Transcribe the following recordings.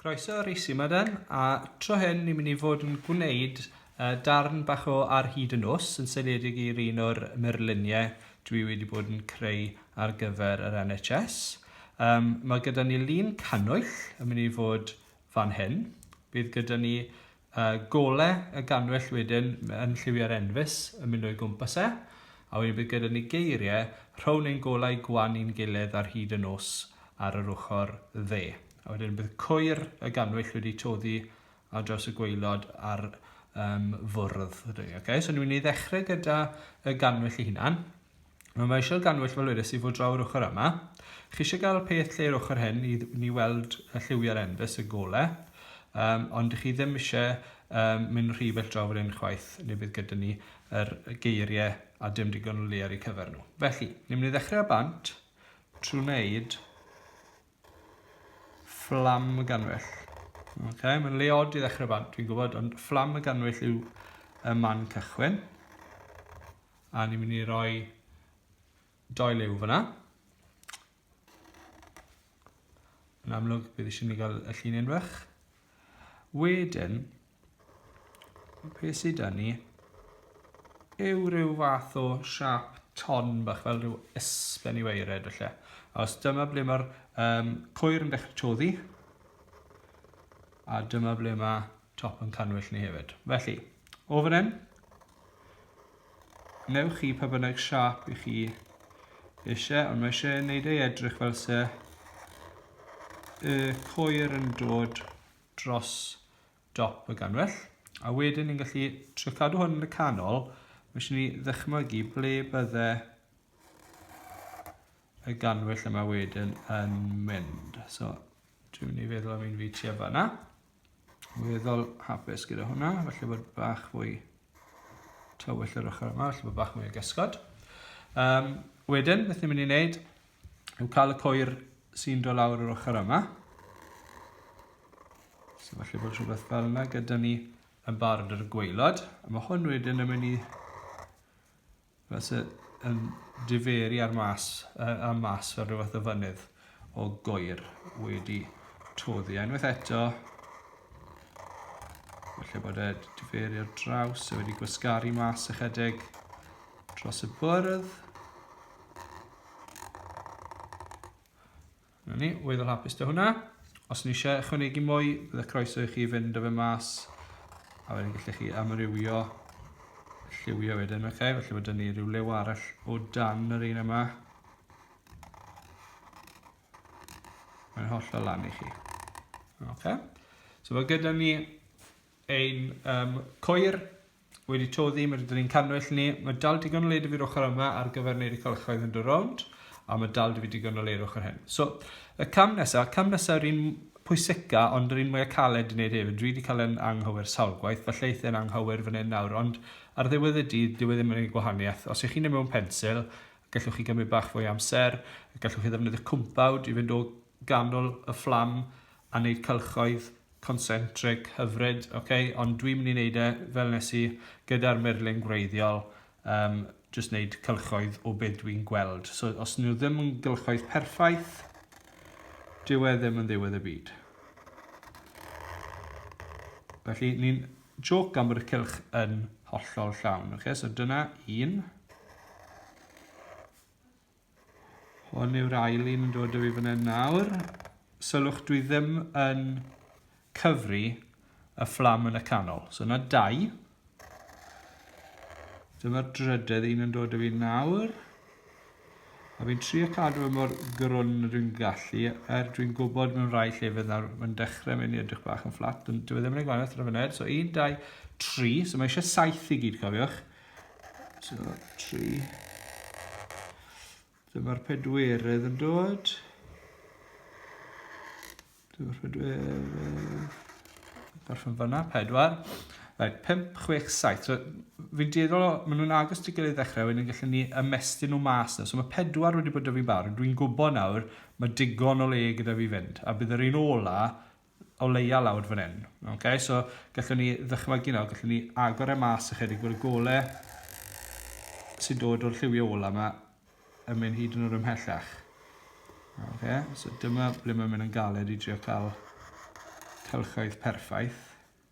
Croeso ar Isi Madan, a tro hyn ni'n mynd i fod yn gwneud uh, darn bach o ar hyd y nos yn seiliedig i'r un o'r myrluniau dwi wedi bod yn creu ar gyfer yr NHS. Um, mae gyda ni lun cannwyll yn mynd i fod fan hyn. Bydd gyda ni uh, gole y ganwyll wedyn yn lliwiau'r enfys yn mynd o'i gwmpas e, a wedyn bydd gyda ni geiriau rhown ein golau gwan i'n gilydd ar hyd y nos ar yr ochr dde. A wedyn bydd cwyr y ganwyll wedi toddi ar draws y gweilod ar um, fwrdd. Okay? So ni'n mynd i ddechrau gyda y ganwyll i hunan. Nawr mae eisiau ganwyll fel wedes i fod draw yr ochr yma. Chi eisiau gael peth lle yr ochr hyn i ni weld y lliwiau'r enfys y gole, um, ond chi ddim eisiau um, mynd rhy bell draw fan hyn chwaith, neu bydd gyda ni yr geiriau a dim digon o le ar eu cyfer nhw. Felly, ni'n mynd i ddechrau â bant trwy wneud fflam y ganwyll. Okay, mae'n le od i ddechrau bant, fi'n gwybod, ond fflam y ganwyll yw y man cychwyn. A ni'n mynd i roi doi liw fyna. Yn amlwg, bydd eisiau ni gael y llun unfach. Wedyn, pe sydd da ni, yw rhyw fath o siap ton bach fel rhyw ysben i weired felly. A os dyma ble mae'r um, cwyr yn dechrau toddi, a dyma ble mae top yn cannwyll ni hefyd. Felly, o fan hyn, newch chi pa bynnag siap i chi eisiau, ond mae eisiau wneud ei edrych fel se y coer yn dod dros dop y ganwell. A wedyn ni'n gallu trio cadw hwn yn y canol, mae eisiau ni ddychmygu ble bydde y ganwell yma wedyn yn mynd. So, dwi'n mynd i feddwl am un fi ti a fanna. Weddol hapus gyda hwnna, felly bod bach fwy tywyll yr ochr yma, felly bod bach mwy o gysgod. Um, wedyn, beth ni'n mynd i wneud yw cael y coer sy'n dod lawr yr ochr yma. So felly bod rhywbeth fel yna gyda ni yn barod ar y gweilod. A mae hwn wedyn yn mynd i Mae se yn diferu ar mas, uh, am mas fel rhywbeth o fynydd o goer wedi toddi. A unwaith eto, felly bod e diferu ar draws, a wedi gwasgaru mas ychydig dros y bwrdd. Na ni, weddol hapus da hwnna. Os ni eisiau ychwanegu mwy, bydd y croeso i chi fynd o fe mas, a wedyn gallech chi amrywio lliwio wedyn, oce? Okay? Felly mae dyn ni rhyw lew arall o dan yr un yma. Mae'n holl o lan i chi. Oce? Okay? So mae gyda ni Ein um, coir wedi toddi, mae dyn ni'n cannwyll ni. Mae dal digon o led i fi'r ochr yma ar gyfer wneud y cylchoedd yn dy rownd, a mae dal dy fi digon o le i'r ochr hyn. So, y cam nesaf, cam nesaf yr un pwysica, ond yr un mwyaf caled i wneud hefyd. Dwi wedi cael yn anghywir sawl gwaith, falle eithaf yn anghywir fan hyn nawr, ond ar ddiwedd y dydd, dyw e ddim yn ei gwahaniaeth. Os ych chi'n ei mewn pensil, gallwch chi gymryd bach fwy amser, gallwch chi ddefnyddio cwmpawd i fynd o ganol y fflam a wneud cylchoedd concentric hyfryd, okay? ond dwi'n mynd i wneud e fel nes i gyda'r murlun gwreiddiol, um, jyst wneud cylchoedd o beth dwi'n gweld. So os nhw ddim yn gylchoedd perffaith, dyw e ddim yn ddiwedd y byd. Felly ni'n joc am bod y cylch yn hollol llawn. Okay? So dyna un. Hwn yw'r ail un yn dod o fi fan hyn nawr. Sylwch, dwi ddim yn cyfri y fflam yn y canol. So yna dau. Dyma'r drydedd un yn dod o fi nawr. A fi'n trio cadw fe mor grwn y dwi'n gallu, er dwi'n gwybod mewn rhai llefydd nawr mae'n dechrau mynd i edrych bach yn fflat, ond dwi e ddim yn ei gwanaeth ar y funud. So 1, 2, 3, so mae eisiau 7 i gyd, cofiwch. So, tri. Dyma'r pedwerydd yn dod. Dyma'r pedwerydd. Gorffen fyna, pedwar. Right, 5, 6, 7. So, fi'n dueddol, maen nhw'n agos ti gilydd ddechrau, wedyn gallwn ni ymestyn nhw mas na. So mae pedwar wedi bod da fi'n barod. Dwi'n gwybod nawr, mae digon o le gyda fi fynd. A bydd yr un ola o leia lawr fan hyn. Ok, so gallwn ni ddychmygu nawr, gallwn ni agor e mas ychydig bod y gole sy'n dod o'r lliwio ola yma yn mynd hyd yn o'r ymhellach. Ok, so dyma ble mae'n mynd yn galed i drio cael cylchoedd perffaith.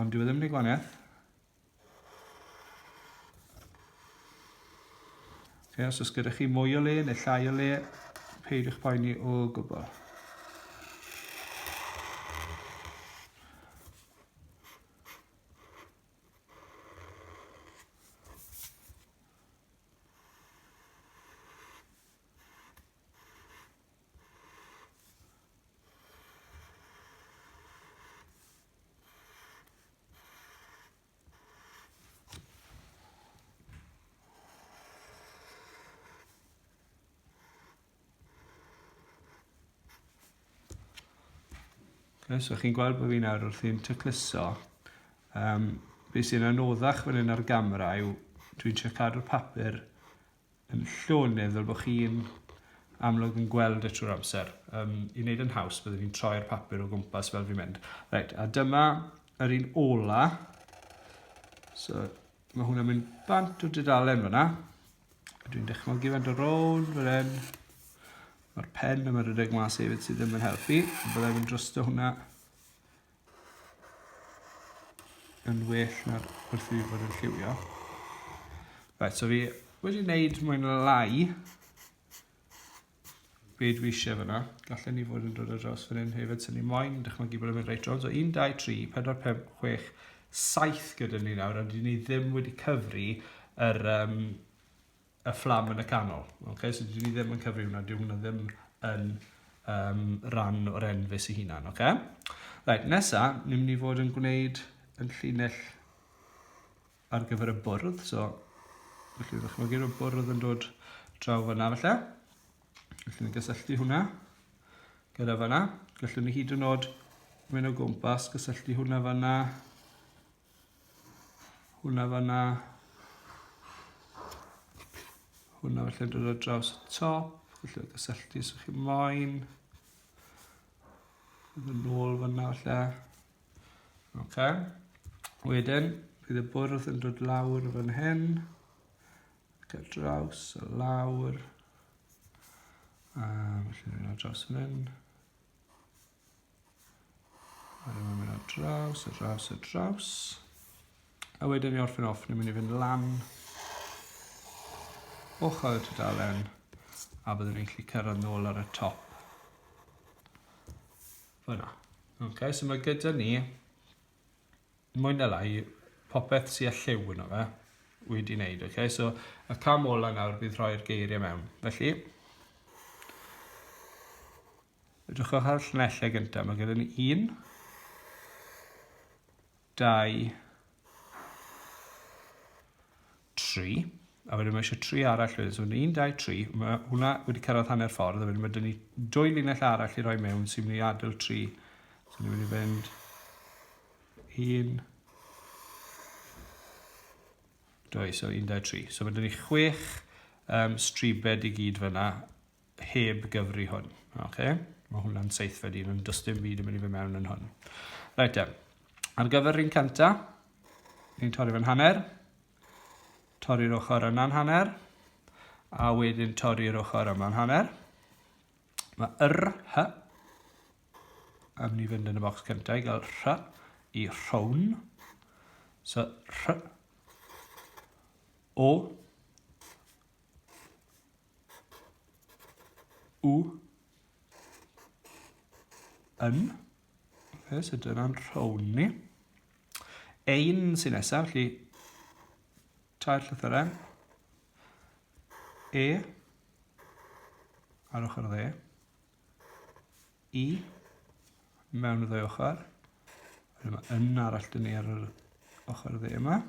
Ond dwi e ddim yn ei gwaniaeth. Ie, os oes gyda chi mwy o le neu llai o le, peidiwch poeni o gwbl. Okay, so chi'n gweld bod fi'n nawr wrthi'n tecluso. Um, be sy'n anoddach fan hyn ar gamera yw dwi'n trio cadw'r papur yn llonydd fel bod chi'n amlwg yn gweld y trwy'r amser. Um, I wneud yn haws, byddwn ni'n troi'r papur o gwmpas fel fi'n mynd. Right, a dyma yr un ola. So, mae hwnna'n mynd bant o dudalen fyna. Dwi'n dychmygu fan do rown fel hyn. Mae'r pen yma rhedeg mas hefyd sydd ddim yn helpu. Byddai'n mynd drosto hwnna. yn well na'r wrth fi fod yn lliwio. Right, so fi wedi wneud mwyn lai be dwi eisiau fyna. Gallen ni fod yn dod ar dros fan hyn hefyd, sy'n ni moyn dychmygu bod yn mynd reit rownd. So 1, 2, 3, 4, 5, 6, 7 gyda ni nawr, ond ni ddim wedi cyfri yr, um, y fflam yn y canol. Okay? So dwi ddim yn cyfri hwnna, dwi hwnna ddim yn um, ran o'r enfus i hunan. Okay? Right, nesa, ni'n mynd i fod yn gwneud yn llinell ar gyfer y bwrdd. So, felly ydych chi'n gyrwyd bwrdd yn dod draw fyna felly. Felly ni'n gysylltu hwnna gyda fyna. Gallwn ni hyd yn oed mynd o gwmpas, gysylltu hwnna fyna Hwna fanna. Hwna felly dod ar draws y top. Felly gysylltu sy'ch chi'n moyn. Yn ôl fanna felly. Oce. Wedyn, bydd y bwrdd yn dod lawr fan hyn. Ac ar draws, a lawr. A felly ni'n ar draws fan hyn. A ni'n mynd ar draws, ar draws, ar draws. A wedyn i orffen off, ni'n mynd i fynd lan ochr y tudalen a byddwn ni'n gallu cyrraedd nôl ar y top. Fyna. Okay, so mae gyda ni mwy na lai popeth sy'n lliw yno fe wedi wneud. Okay? So y cam ola nawr bydd rhoi'r geiriau mewn. Felly, Edrychwch ar y llunellau gyntaf. Mae gyda ni un, dau, tri. A wedyn mae eisiau tri arall wedyn. So, un, dau, tri. Mae hwnna wedi cyrraedd hanner ffordd. A wedyn mae dyn ni dwy linell arall i roi mewn sy'n mynd i adael tri. So, ni'n mynd i fynd un, dwy, so un, dau, tri. So, mae dyn ni chwech um, stribed i gyd fyna heb gyfri hwn. Okay? Mae hwnna'n seithfed un, ond does dim byd yn mynd i fy mewn yn hwn. Reit e, ar gyfer rhywun cynta, ni'n torri fe'n hanner, torri'r ochr yna'n hanner, a wedyn torri'r ochr yma'n hanner. Mae yr hy am ni fynd yn y bocs cyntaf i gael rhy i rhown. So, rhy o U. Yn. Fe sydd dyna'n rhown ni. Ein sy'n nesaf, felly tair llythyrau. E. Ar ochr dde. I. Mewn y ddwy ochr. Wedyn mae yn arall dyn ni ar yr ochr dde yma.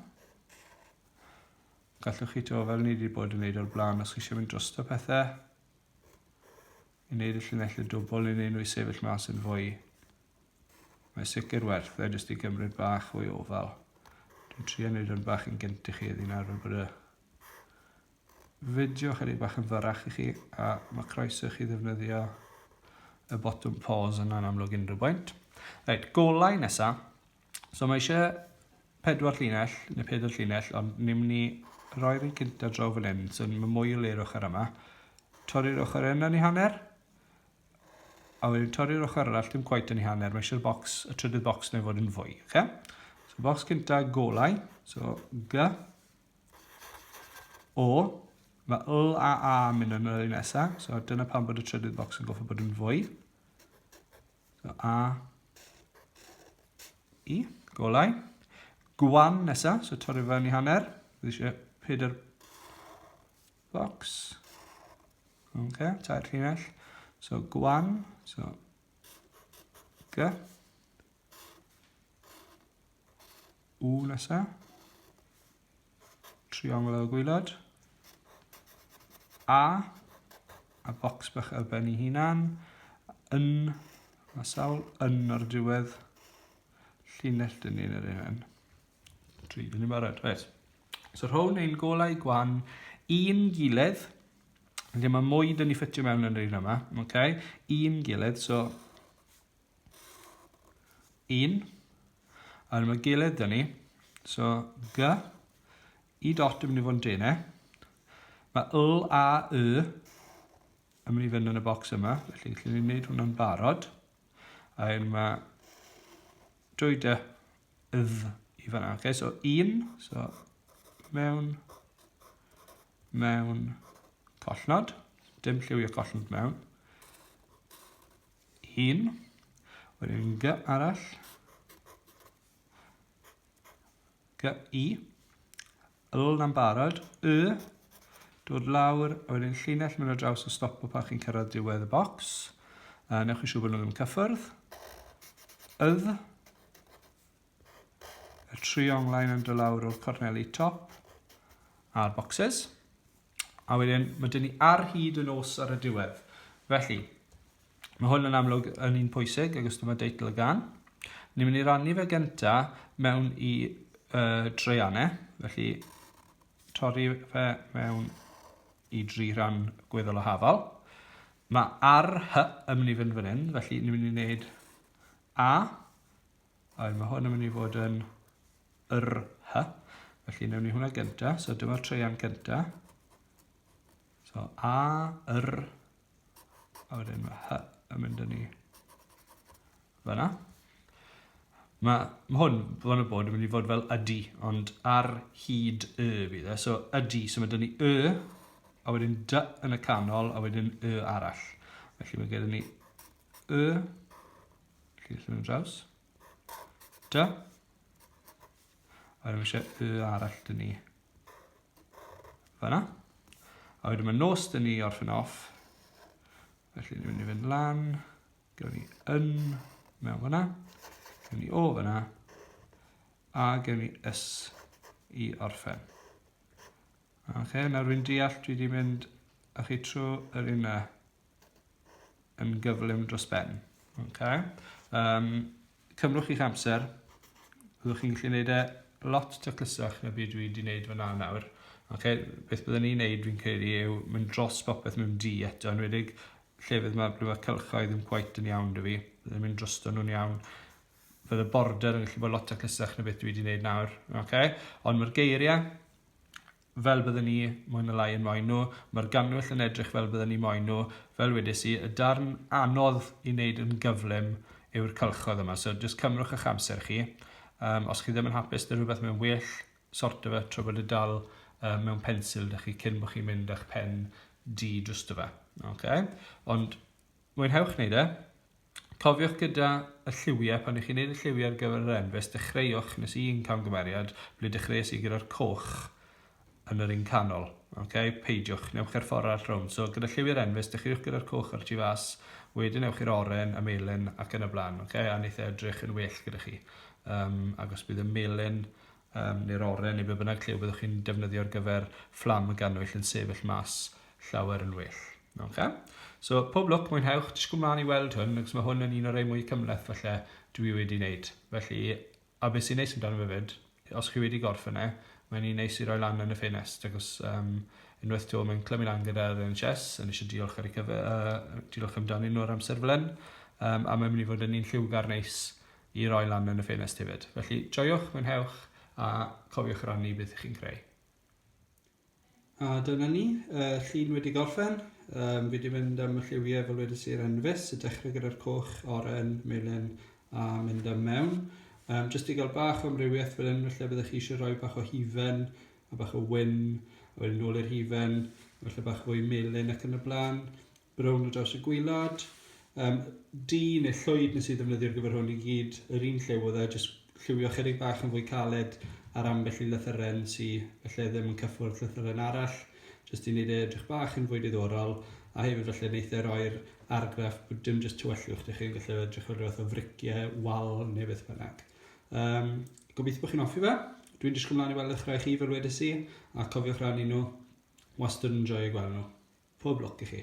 Gallwch chi to fel ni wedi bod yn neud o'r blaen os chi eisiau mynd drosto pethe. I wneud y llinellau dwbl i neud nhw i sefyll mas yn fwy. Mae sicr werth e jyst i gymryd bach o'i ofal. Dwi'n trio wneud o'n bach yn gynt i chi eddi nawr fel bod y fideo chydig bach yn fyrrach i chi a mae croeso chi ddefnyddio y botwm pause yn anamlwg unrhyw bwynt. Reit, golau nesaf. So mae eisiau pedwar llinell, neu pedwar llinell, ond ni'n mynd i roi'r un cynta draw fan hyn, so mae mwy o le ar ochr yma. Torri'r ochr yna ni hanner, a wedyn torri'r ochr arall, dim gwaith yn ei hanner, mae eisiau'r box, y trydydd box neu fod yn fwy. Okay? So box cynta golau, so G, O, mae L a A yn mynd yn yr un nesaf, so dyna pan bod y trydydd box yn goffa bod yn fwy. So A, I, golau. Gwan nesa, so torri fewn i hanner. Dwi eisiau pedair box. Ok, tair llinell. So gwan, so G. U nesa. triongl y gwylod, A, a bocs bach ar ben ei hunan, yn, mae sawl yn ar diwedd llinell dyn ni'n yr un. Tri, dyn ni'n barod, reit. So rhown ein golau gwan un gilydd, Felly mae mwy dyn ni ffitio mewn yn yr un yma, okay? un gilydd, so 1 ar yma gilydd dyn ni. So, G, i dot yn mynd i fod yn denau. Mae L a Y yn mynd i fynd yn y bocs yma, felly gallwn ni wneud hwnna'n barod. A hyn mae dwy dy ydd i fanna. Okay, so 1, so mewn, mewn, collnod. Dim lliwio collnod mewn. Un. Wedyn g arall. G i. L na'n barod. Y. Dod lawr. A wedyn llinell mynd o draws y stop o pan chi'n cyrraedd diwedd y bocs. A newch chi siŵr bod nhw ddim yn cyffwrdd. Ydd. Y tri onglaen yn dod lawr o'r corneli top a'r boxes. A wedyn, mae dyn ni ar hyd y nos ar y diwedd. Felly, mae hwn yn amlwg yn un pwysig, agos dyma deitl y gan. Ni'n mynd i rannu fe gynta mewn i uh, dreianau, felly torri fe mewn i dri rhan gweddol o hafal. Mae ar hy yn mynd i fynd fan hyn, felly ni'n mynd i wneud A, A mae hwn yn mynd i fod yn yr hy. Felly newn ni hwnna gynta. So dyma'r treian gynta. So a, yr, a wedyn mae hy yn mynd yn ni fyna. Mae ma hwn, fan y bod, yn mynd i fod fel ydy, ond ar hyd y fydd e. So ydy, so mae dyn ni y, a wedyn dy yn y canol, a wedyn y arall. Felly mae gen ni Y. Felly llun yn draws. Da. A wedyn eisiau y arall dyn ni. Fyna. A wedyn mae nos dyn ni orffen off. Felly ni'n mynd i fynd lan. Gewn ni yn mewn fyna. Gewn ni o fyna. A gewn ni ys i orffen. Oce, okay, nawr fi'n deall dwi wedi mynd a chi trwy yr un yn gyflym dros ben. Okay. Um, cymrwch chi'ch amser. Byddwch chi'n gallu gwneud e lot taclusach na byd dwi wedi gwneud fyna nawr. Okay. Beth byddwn ni'n gwneud fi'n credu yw mynd dros popeth mewn di eto, yn wedig llefydd mae blwyfa cylchoedd yn gwaith yn iawn dy fi. Byddwn mynd drosto nhw'n iawn. Fydd y border yn gallu bod lot taclusach na beth dwi wedi gwneud nawr. Okay. Ond mae'r geiriau fel bydden ni, mwy na lai, yn moyn nhw. Mae'r gannwyll yn edrych fel bydden ni moyn nhw. Fel wedes i, y darn anodd i wneud yn gyflym yw'r cylchoedd yma, so jyst cymrwch eich amser chi. Um, os chi ddim yn hapus dy rhywbeth mae'n well, sorto fe tro bod y dal uh, mewn pensil da chi cyn bod chi'n mynd â'ch pen di drwsto fe. Okay? Ond Mwynhewch wneud e! Cofiwch gyda y lliwiau, pan i chi'n wneud y lliwiau ar gyfer yr enfys, dechreuwch, nes i un camgymeriad, ble dechreuais i gyda'r coch yn yr un canol. Okay? Peidiwch, newch e'r ffordd arall rownd. So, gyda lliwiau'r enfys, dechreuwch gyda'r coch ar y tu fas, wedyn ewch i'r oren, y melyn ac yn y blaen. Okay? A wneith e edrych yn well gyda chi. Um, agos bydd y melyn um, neu'r oren neu be bynnag lle byddwch chi'n defnyddio ar gyfer fflam y gannwyll yn sefyll mas llawer yn well. Okay? So, pob lwc, mwynhewch, disgwyl mlaen i weld hwn, ac mae hwn yn un o'r ei mwy cymleth falle dwi wedi wneud. Felly, a beth sy'n neis amdano fe fyd, os chi wedi gorffen e, mae'n un neis i roi lan yn y ffenest, ac os um, unwaith to mae'n clymu lan gyda'r NHS, yn eisiau diolch ar ei cyfer, uh, diolch amdanyn nhw ar amser fel hyn, um, a mae'n mynd i fod yn un lliwgar neis i roi lan yn y ffenest hefyd. Felly joiwch, mwynhewch a cofiwch rannu beth ych chi'n creu. A dyna ni, y llun wedi gorffen. Um, fi wedi mynd am y lliwiau fel wedi sir yn fus, y dechrau gyda'r coch, oren, melyn a mynd am mewn. Um, jyst i gael bach o amrywiaeth fel hyn, felly byddwch chi eisiau rhoi bach o hufen a bach o wyn, a wedyn nôl i'r hufen, felly bach fwy melyn ac yn y blaen. Brown ar draws y gwylod. Um, du neu llwyd nes i ddefnyddio'r gyfer hwn i gyd yr un lliw oedd e, jyst lliwio chydig bach yn fwy caled ar ambell i lythyren sy'n felly ddim yn cyffwrdd lythyren arall, jyst i wneud e edrych bach yn fwy diddorol, a hefyd felly wneud e roi'r argraff bod dim jyst tywyllwch dych chi'n gallu edrych fel rhywbeth o friciau, wal neu beth bynnag. Um, gobeithio bod chi'n offi fe. Dwi'n disgwyl mlaen i weld eich rhai chi fel wedi si, a cofiwch rannu nhw Wastad yn joio gweld nhw. Pob lwc i chi.